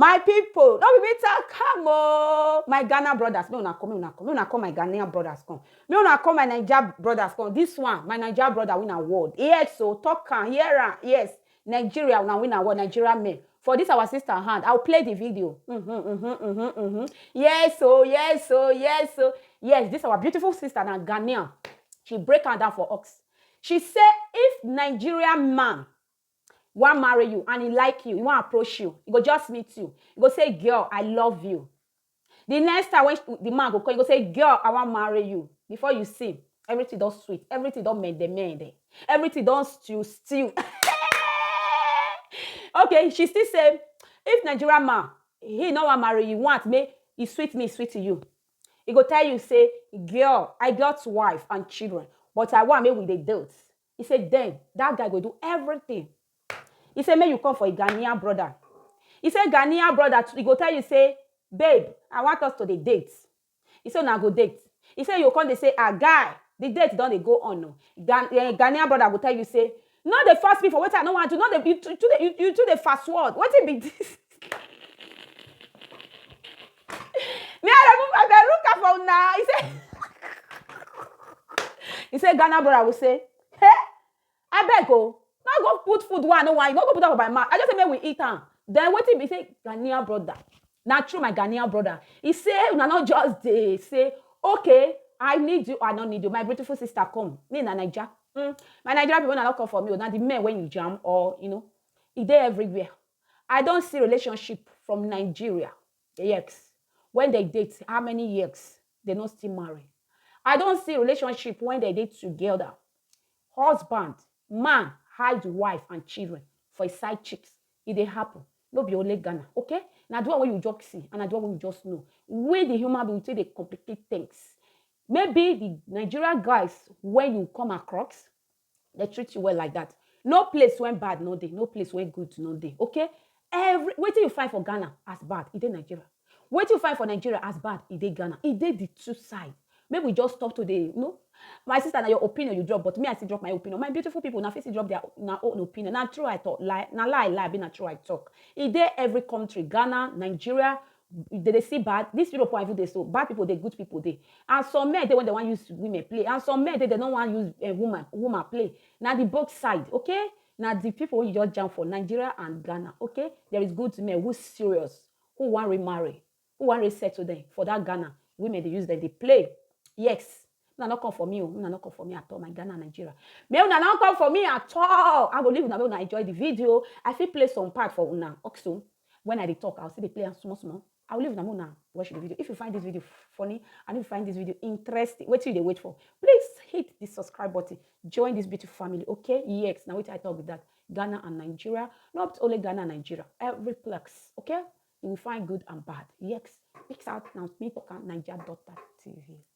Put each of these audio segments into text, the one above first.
My people, no be me talk am oh, my Ghana brothers, make una come, make una come, make una come my Ghanaian brothers come, make una come my Naija brothers come, this one, my Naija brother win award, yes oh, talk am, hear am, yes, Nigeria una win award, Nigeria men, for this our sister hand, I will play the video, mhm, mhm, mhm, mhm, yes oh, yes oh, yes oh, yes, this our beautiful sister na Ghanaian, she break am down for us, she say if Nigerian man wan marry you and e like you, e wan approach you, e go just meet you, e go say girl I love you. The next time when the man go call, e go say girl I wan marry you. Before you see, everything don sweet, everything don mende mende, everything don stew stew. okay, she still say if Nigerian man he no wan marry you, want make e sweet me, e sweet you. E go tell you say girl I got wife and children but I want make we dey date. He say then that guy go do everything. He say make you come for a Ghanaian brother. He say Ghanaian brother, he go tell you say, babe, I want us to the date. He say now go date. He say you come they say, ah guy, the date don't they go on. No. Ghan- eh, Ghanaian brother go tell you say, no they force me for what I don't want to. No they you too you too dey- you too the fast word. What it be this? me i dey look i dey look am for una he say he say ghana brother go say hey abeg o oh, no go put food one no one no go put am for my mouth i just say make we eat am then wetin be say ghanaian brother na true my ghanaian brother he say una no just dey say okay i need you i no need you my beautiful sister come me na naija mm, my naija people na no come for me o oh, na the men wey you jam or you know e dey everywhere I don see relationship from Nigeria, ex, when they date how many years, they no still marry. I don see relationship when they dey together. Husband, man hide wife and children for his side chicks. E dey happen. No be only Ghana, okay? Na the one wey you just see and na the one wey you just know. We the human being we take dey complicate things. Maybe the Nigeria guys wey you come across, Dem treat you well like dat. No place wen bad no dey, no place wen good no dey, okay? Every wetin you find for Ghana as bad, e dey Nigeria. Wetin you find for Nigeria as bad, e dey Ghana. E dey di two side. Make we just stop to dey, you know. My sister, na your opinion you drop, but me, I still drop my opinion. My beautiful pipo, una fit still drop dia una own opinion. Na true I tok? Lie? Na lie I lie abi na true I tok? E dey every kontri, Ghana, Nigeria, they dey see bad this europe wey i even dey so bad people dey good people dey and some men dey when they wan use women play and some men dey they no wan use uh, woman woman play na the both side okay na the people wey you just jam for nigeria and ghana okay there is good men who serious who wan remarry who wan resettle them for that ghana women dey use them dey play yes Una no come for me oh, una no come for me at all my Ghana and Nigeria. Make una no come for me at all. I go leave una make una enjoy the video. I fit play some part for una also. When I dey talk, I will still dey play am small small. I will leave una make una watch the video. If you find this video funny and if you find this video interesting, wetin you dey wait for? Please hit the subscribe button. Join this beautiful family, okay? Yes, na wetin I talk be that. Ghana and Nigeria, not only Ghana and Nigeria, every place, okay? You will find good and bad. Yes, peace out. Now, me talk am, Naija daughter TV.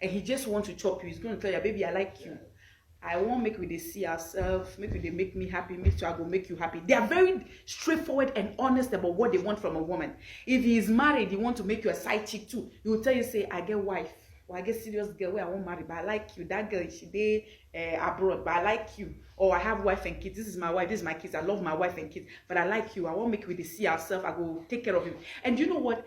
and he just want to chop you he's going to tell you baby i like you i want make we dey see ourselves make we dey make me happy me too i go make you happy they are very straightforward and honest about what they want from a woman if he is married he want to make you a side chick too he will tell you say i get wife or i get serious girl wey i wan marry but i like you that girl she dey uh, abroad but i like you or i have wife and kids this is my wife this is my kids i love my wife and kids but i like you i wan make we dey see ourselves i go take care of you and you know what